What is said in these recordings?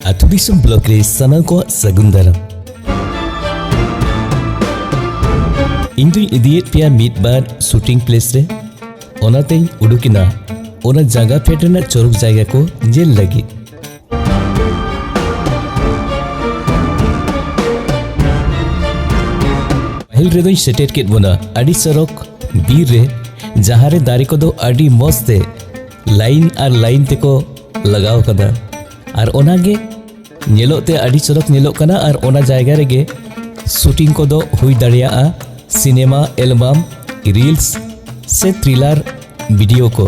ᱟᱹᱛᱩ ᱫᱤᱥᱚᱢ ᱵᱞᱚᱠ ᱨᱮ ᱥᱟᱱᱟᱢ ᱠᱚᱣᱟᱜ ᱥᱟᱹᱜᱩᱱ ᱫᱟᱨᱟᱢ ᱤᱧ ᱫᱩᱧ ᱤᱫᱤᱭᱮᱫ ᱯᱮᱭᱟ ᱢᱤᱫ ᱵᱟᱨ ᱥᱩᱴᱤᱝ ᱯᱞᱮᱥ ᱨᱮ ᱚᱱᱟᱛᱮᱧ ᱩᱰᱩᱠᱮᱱᱟ ᱚᱱᱟ ᱡᱟᱭᱜᱟ ᱯᱷᱮᱰ ᱨᱮᱱᱟᱜ ᱪᱚᱨᱚᱠ ᱡᱟᱭᱜᱟ ᱠᱚ ᱧᱮᱞ ᱞᱟᱹᱜᱤᱫ ᱯᱟᱹᱦᱤᱞ ᱨᱮᱫᱚᱧ ᱥᱮᱴᱮᱨ ᱠᱮᱫ ᱵᱚᱱᱟ ᱟᱹᱰᱤ ᱪᱚᱨᱚᱠ ᱵᱤᱨ ᱨᱮ ᱡᱟᱦᱟᱸ ᱨᱮ ᱫᱟᱨᱮ ᱠᱚᱫᱚ ᱟᱹᱰᱤ ᱢᱚᱡᱽ ᱛᱮ ᱞᱟᱭᱤᱱ ᱟᱨ ᱞᱟᱭᱤᱱ ᱛᱮᱠᱚ ᱞᱟᱜᱟᱣ ᱠᱟᱫᱟ ᱟᱨ ᱚᱱᱟᱜᱮ ᱧᱮᱞᱚᱜ ᱛᱮ ᱟᱹᱰᱤ ᱪᱚᱨᱚᱠ ᱧᱮᱞᱚᱜ ᱠᱟᱱᱟ ᱟᱨ ᱚᱱᱟ ᱡᱟᱭᱜᱟ ᱨᱮᱜᱮ ᱥᱩᱴᱤᱝ ᱠᱚᱫᱚ ᱦᱩᱭ ᱫᱟᱲᱮᱭᱟᱜᱼᱟ ᱥᱤᱱᱮᱢᱟ ᱮᱞᱵᱟᱢ ᱨᱤᱞᱥ ᱥᱮ ᱛᱷᱨᱤᱞᱟᱨ ᱵᱷᱤᱰᱤᱭᱳ ᱠᱚ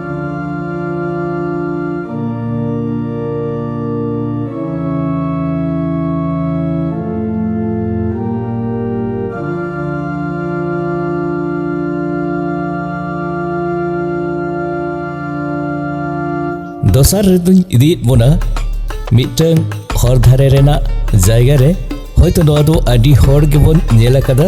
ᱫᱚᱥᱟᱨ ᱨᱮᱫᱚᱧ ᱤᱫᱤᱭᱮᱫ ᱵᱚᱱᱟ ᱢᱤᱫᱴᱟᱝ ᱦᱚᱨ ᱫᱷᱟᱨᱮ ᱨᱮᱱᱟᱜ ᱡᱟᱭᱜᱟ ᱨᱮ ᱦᱚᱭᱛᱳ ᱱᱚᱣᱟ ᱫᱚ ᱟᱹᱰᱤ ᱦᱚᱲ ᱜᱮᱵᱚᱱ ᱧᱮᱞ ᱟᱠᱟᱫᱟ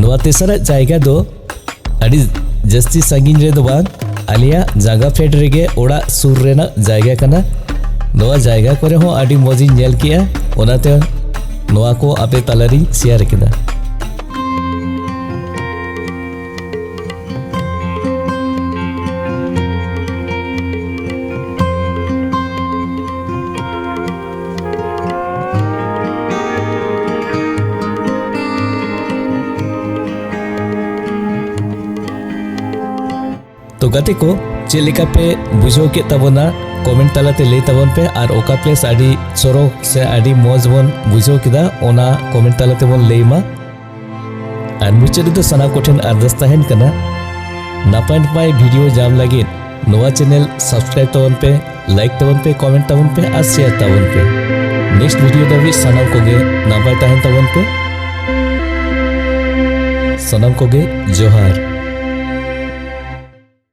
ᱱᱚᱣᱟ ᱛᱮᱥᱟᱨᱟᱜ ᱡᱟᱭᱜᱟ ᱫᱚ ᱟᱹᱰᱤ ᱡᱟᱹᱥᱛᱤ ᱥᱟᱺᱜᱤᱧ ᱨᱮ ᱫᱚ ᱵᱟᱝ ᱟᱞᱮᱭᱟᱜ ᱡᱟᱸᱜᱟ ᱯᱷᱮᱰ ᱨᱮᱜᱮ ᱚᱲᱟᱜ ᱥᱩᱨ ᱨᱮᱱᱟᱜ ᱡᱟᱭᱜᱟ ᱠᱟᱱᱟ ᱱᱚᱣᱟ ᱡᱟᱭᱜᱟ ᱠᱚᱨᱮ ᱦᱚᱸ ᱟᱹᱰᱤ ᱢᱚᱡᱽ ᱤᱧ ᱧᱮᱞ ᱠᱮᱜᱼᱟ ᱚᱱᱟᱛᱮ ᱱᱚᱣᱟ ᱠᱚ ᱟᱯᱮ ᱛᱟᱞᱟᱨᱤᱧ ᱥᱮᱭᱟᱨ ᱠᱮᱫᱟ ᱛᱚ ᱜᱟᱛᱮ ᱠᱚ ᱪᱮᱫ ᱞᱮᱠᱟ ᱯᱮ ᱵᱩᱡᱷᱟᱹᱣ ᱠᱮᱫ ᱛᱟᱵᱚᱱᱟ ᱠᱚᱢᱮᱱᱴ ᱛᱟᱞᱟᱛᱮ ᱞᱟᱹᱭ ᱛᱟᱵᱚᱱ ᱯᱮ ᱟᱨ ᱚᱠᱟ ᱯᱞᱮᱥ ᱟᱹᱰᱤ ᱪᱚᱨᱚᱠ ᱥᱮ ᱟᱹᱰᱤ ᱢᱚᱡᱽ ᱵᱚᱱ ᱵᱩᱡᱷᱟᱹᱣ ᱠᱮᱫᱟ ᱚᱱᱟ ᱠᱚᱢᱮᱱᱴ ᱛᱟᱞᱟᱛᱮ ᱵᱚᱱ ᱞᱟᱹᱭ ᱢᱟ ᱟᱨ ᱢᱩᱪᱟᱹᱫ ᱨᱮᱫᱚ ᱥᱟᱱᱟᱢ ᱠᱚᱴᱷᱮᱱ ᱟᱨᱫᱟᱥ ᱛᱟᱦᱮᱱ ᱠᱟᱱᱟ ᱱᱟᱯᱟᱭ ᱱᱟᱯᱟᱭ ᱵᱷᱤᱰᱤᱭᱳ ᱧᱟᱢ ᱞᱟᱹᱜᱤᱫ ᱱᱚᱣᱟ ᱪᱮᱱᱮᱞ ᱥᱟᱵᱥᱠᱨᱟᱭᱤᱵ ᱛᱟᱵᱚᱱ ᱯᱮ ᱞᱟᱭᱤᱠ ᱛᱟᱵᱚᱱ ᱯᱮ ᱠᱚᱢᱮᱱᱴ ᱛᱟᱵᱚᱱ ᱯᱮ ᱟᱨ ᱥᱮᱭᱟᱨ ᱛᱟᱵᱚᱱ ᱯᱮ ᱱᱮᱠᱥᱴ ᱵᱷᱤᱰᱤᱭᱳ ᱫᱷᱟᱹᱵᱤᱡ ᱥᱟᱱᱟᱢ ᱠᱚᱜᱮ ᱱᱟᱯᱟᱭ ᱛᱟᱦᱮᱱ ᱛᱟᱵᱚᱱ ᱯᱮ ᱥᱟᱱᱟᱢ ᱠᱚᱜᱮ ᱡᱚᱦᱟᱨ